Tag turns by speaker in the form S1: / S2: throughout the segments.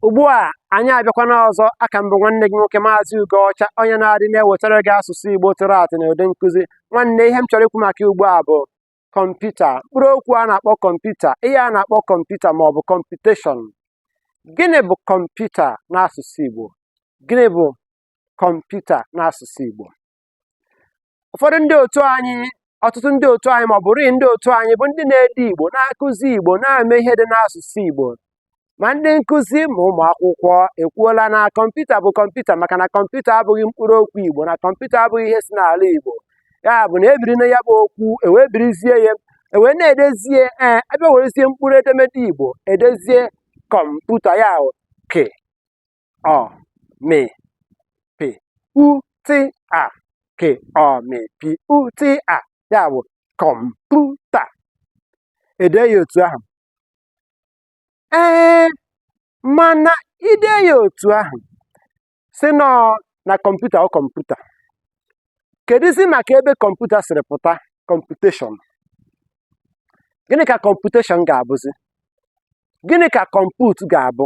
S1: ugbu a anyị abịakwana ọzọ aka m bụ nwanne gị nwoke maazị Ugoọcha onye na-adị na-ewetara gị asụsụ Igbo tụrụ atụ na ụdị nkụzi nwanne ihe m chọrọ ikwu maka ugbu a bụ kọmputa mkpụrụ okwu a na-akpọ kọmputa ihe a na-akpọ kọmputa ma ọ bụ computation gịnị bụ kọmputa n'asụsụ Igbo gịnị bụ kọmputa n'asụsụ Igbo ụfọdụ ndị otu anyị ọtụtụ ndị otu anyị ma ọ bụrụ ndị otu anyị bụ ndị na-ede igbo na-akụzi igbo na-eme ihe dị n'asụsụ igbo ma ndị nkụzi ma ụmụ akwụkwọ ekwuola na kọmputa bụ kọmputa maka na kọmputa abụghị mkpụrụ okwu igbo na kọmputa abụghị ihe si n'ala igbo ya bụ na ebiri na ya bụ okwu ewee birizie ya ewee na-edezie ee abịa werezie mkpụrụ edemede igbo edezie kọmputa ya ke ọ mị pị u tị a ke ọ mị pị u tị a ya bụ kọmputa ede ya otu ahụ ee mana i dee ya otu ahụ sị nọọ na kọmputa ọ kọmputa kedụzi maka ebe kọmputa siri pụta computation gịnị ka computation ga-abụzi gịnị ka compute ga-abụ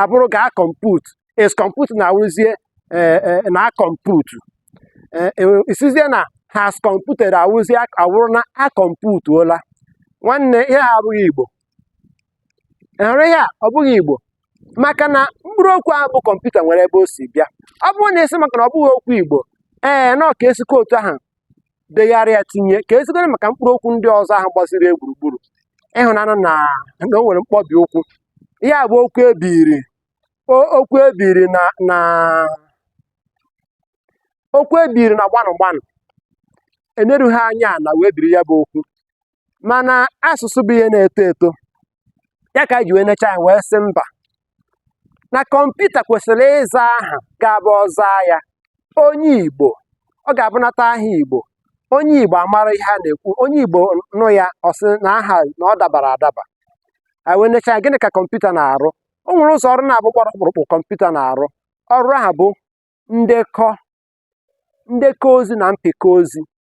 S1: abụrụ ga-akọmput is computing awụrụzie e, e, na-akọmputu ị sịzie na has computed awụrụzie awụrụ na akọmputuola nwanne ihe a abụghị igbo hụrụ ihe a ọ bụghị igbo maka na mkpụrụ okwu ahụ bụ kọmputa nwere ebe o si bịa ọ bụrụ na asị maka na ọ bụghị okwu igbo ee na ọ ka esikwa otu ahụ degharịa tinye ka ezigoro maka mkpụrụ okwu ndị ọzọ ahụ gbaziri ya gburugburu ị hụnanụ na na o nwere mkpọbi okwu ihe a bụ okwu ebiri o- okwu ebiri na na okwu ebiri na gbanụ gbanụ enerughị anya ala wee biri ya bụ okwu mana asụsụ bụ ihe na-eto eto ya ka anyị ji wee necha anya wee sị mba na kọmputa kwesịrị ịza aha ga-abụ ọ zaa ya onye igbo ọ ga-abụnata aha igbo onye igbo amara ihe a na-ekwu onye igbo nụ ya ọ sị na aha na ọ dabara adaba anyị wee necha anya gịnị ka kọmputa na-arụ o nwere ụzọ ọrụ naabọ gbara ọkpụrụkpụ kọmputa na-arụ ọrụ ahụ bụ ndekọ ndekọ ozi na mpịkọ ozi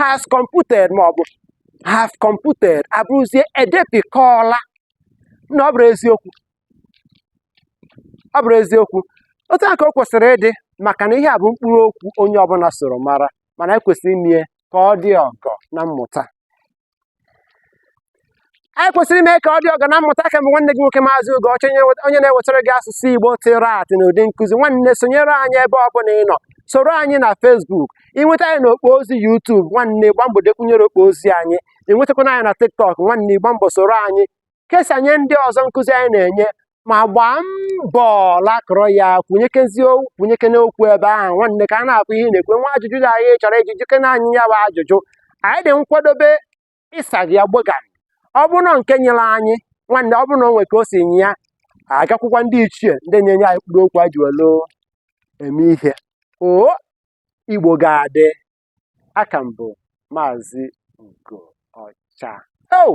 S1: has computed ma ọ bụ have computed abụrụzie edepịkọọla na ọ bụrụ eziokwu ọ bụrụ eziokwu otu a ka o kwesịrị ịdị maka na ihe a bụ mkpụrụ okwu onye ọbụla soro mara mana ekwesịrị ime ka ọ dị ọgọ na mmụta anyị kwesịrị ime ka ọ dị ọgọ na mmụta aka m bụ nwanne gị nwoke maazị Ugoọcha onye na-ewetara gị asụsụ igbo tụrụ atụ na ụdị nkụzi nwanne sonyere anyị ebe ọ bụla ị nọ soro anyị na facebook ị nweta anyị na okpo ozi youtube nwanne gbaa mbọ dekwunyere okpo ozi anyị ị nwetakwana anyị na tiktok nwanne gbaa mbọ soro anyị kesanye ndị ọzọ nkụzi anyị na-enye ma gbaa mbọ lakọrọ ya kwunyekezi kwunyekene okwu ebe ahụ nwanne ka a na-akụ i nwekwee ajụjụ ị chọrọ ịjụ jụkene anyị ya bụ ajụjụ anyị dị nkwadobe ịsa gị ya gbogam ọ bụrụ na nke nyịrị anyị nwanne ọ bụrụ na o nwere ka o si nyịa a gakwukwa ndị ichie ndị na-enye anyị mkpụrụ okwu a ji welu eme ihe o Igbo ga-adị aka m bụ Maazị Ugo Ọcha oh!